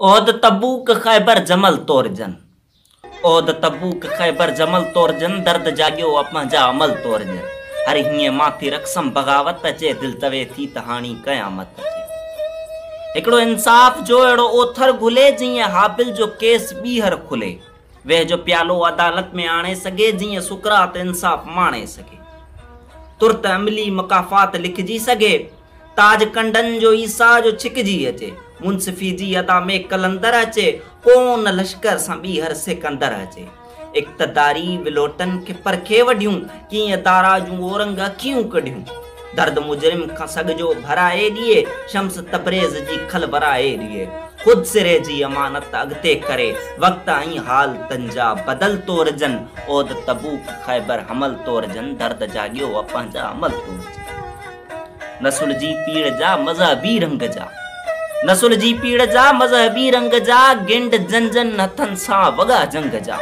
عهد تبوڪ خيبر جمل طور جن عهد تبوڪ خيبر جمل طور جن درد جاڳيو آ پنهنجا عمل طور جن هر هيئن مان ٿي رقصم بغاوت اچي دل چوي ٿي ته هاڻي قيامت اچي هڪڙو انصاف جو اهڙو اوٿر گهلي جيئن هابل جو ڪيس ٻيهر کلي ويهه جو پيالو عدالت ۾ آڻي سگهي جيئن سقراط انصاف ماڻي سگهي ترت عملي مڪافات لکجي سگهي. تاج ڪنڊن جو عيسيٰ جو ڇڪجي اچي، منصفي جي ادا ۾ قلندر اچي، ڪون لشڪر سان ٻيهر سڪندر اچي. اقتداري ولوٽن کي پرکي وڍيون، ڪيئن دارا جون اورنگ اکيون ڪڍيون. درد مجرم کان سڳ جو ڀرائي ڏئي، شمس تبريز جي کل ورائي ڏئي. خود سري جي امانت اڳتي ڪري، وقت ۽ حال تن جا بدل تورجن، عهد تبوڪ خيبر حمل تورجن، درد جاڳيو اپنهنجا عمل تورجن. نسل جي پيڙهه جا مذهبي رنگ جا نسل جي پيڙهه جا مذهبي رنگ جا گنڊ جن جن هٿن سان وڳا جنگ جا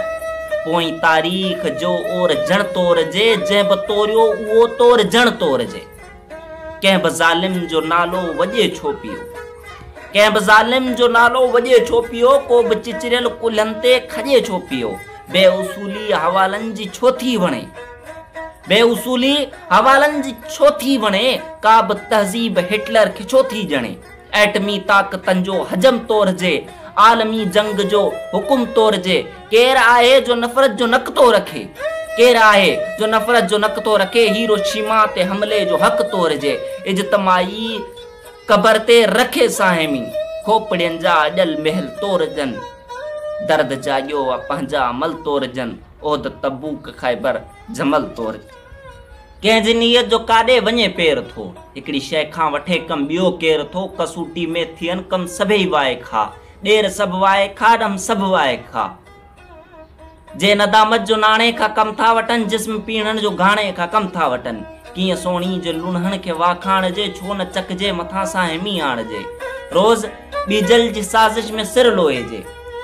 پوئين تاريخ جو اور جڻ تور جي جنهن به توريو اهو تور جڻ تور جي ڪنهن به ظالم جو نالو وڄي ڇو پيو ڪنهن به ظالم جو نالو وڄي ڇو پيو ڪو به چچريل ڪلهن تي کڄي ڇو پيو بي اصولي حوالن جي ڇو ٿي وڻي بي اصولي حوالن جي ڇو ٿي وڻي، ڪا به تهذيب هٽلر کي ڇو ٿي ڄڻي. ايٽمي طاقتن جو حجم تورجي، عالمي جنگ جو حڪم تورجي، ڪير آهي جو نفرت جو نڪ ٿو رکي؟ ڪير آهي جو نفرت جو نڪ ٿو رکي، هيروشيما تي حملي جو حق تورجي، اجتماعي قبر تي رکي ساهمي کوپڙين جا اڄل محل تورجن، درد جاڳيو آ پنهنجا عمل تورجن. احد تبوڪ خيبر جمل طور ڪنهن جي نيت جو ڪاڏي وڃي پير ٿو هڪڙي شئي کان وٺي ڪم ٻيو ڪير ٿو ڪسوٽي ۾ ٿين ڪم سڀئي وائي کاء ڏير سڀ وائي کاء ڏم سڀ وائي کاء جي ندامت جو ناڻي کان ڪم ٿا وٺن جسم پينهڻ جو گهاڻي کان ڪم ٿا وٺن ڪيئن سوڻي جي لونهن کي واکاڻجي ڇو نه چڪجي مٿان سان همي آڻجي روز ٻيجل جي سازش ۾ سر لوئي جي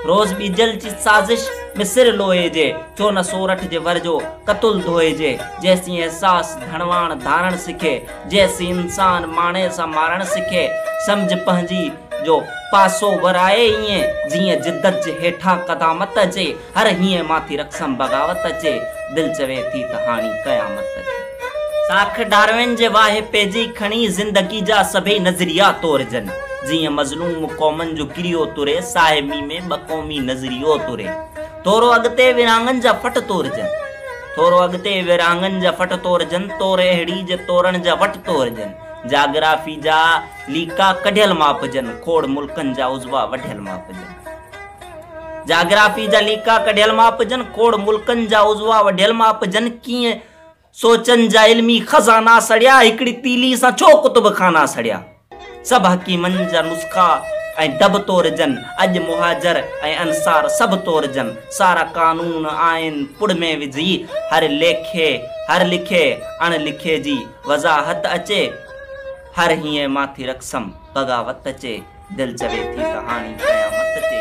روز ٻيجل جي سازش ۾ سر لوئي جي ڇو نه سورٺ جي ور جو ڪتل ڌوئي جي جيسين احساس ڌڻواڻ ڌارڻ سکي جيسين انسان ماڻي سان مارڻ سکي سمجهه پنهنجي جو پاسو ورائي ائين جيئن جدت جي هيٺان قدامت جي هر هينء مان ٿي رقصم بغاوت اچي، دل چوي ٿي ته هاڻي قيامت اچي. ساک ڊاروين جي واهي پئجي کڻي زندگي جا سڀئي نظريا تورجن. جيئن مظلوم قومن جو ڪريو تري، ساهمي ۾ ٻه قومي نظريو تري. ٿورو اڳتي ورهاڱن جا ڦٽ تورجن. ٿورو اڳتي ورهاڱن جا ڦٽ تورجن، تور اهڙي جي تورڻ جا وٽ تورجن. جاگرافي جا ليڪا ڪڍيل ماپجن، کوڙ ملڪن جا عضوا وڍيل ماپجن. جاگرافي جا ليکا ڪڍيل ماپ جن، کوڙ ملڪن جا عضوا وڍيل ماپ جن، ڪيئن سوچن جا علمي خزانا سڙيا، هڪڙي تيلي سان ڇو ڪتب خانا سڙيا. سڀ حڪيمن جا نسخا ۽ ڊب تورجن، اڄ مهاجر ۽ انصار سڀ تورجن، سارا قانون آئين پڙ ۾ وجهي، هر ليکي هر لکي اڻ لکي جي وضاحت اچي، هر هيئن مان ٿي رقصم بغاوت چي دل چوي ٿي ته هاڻي قيامت چي.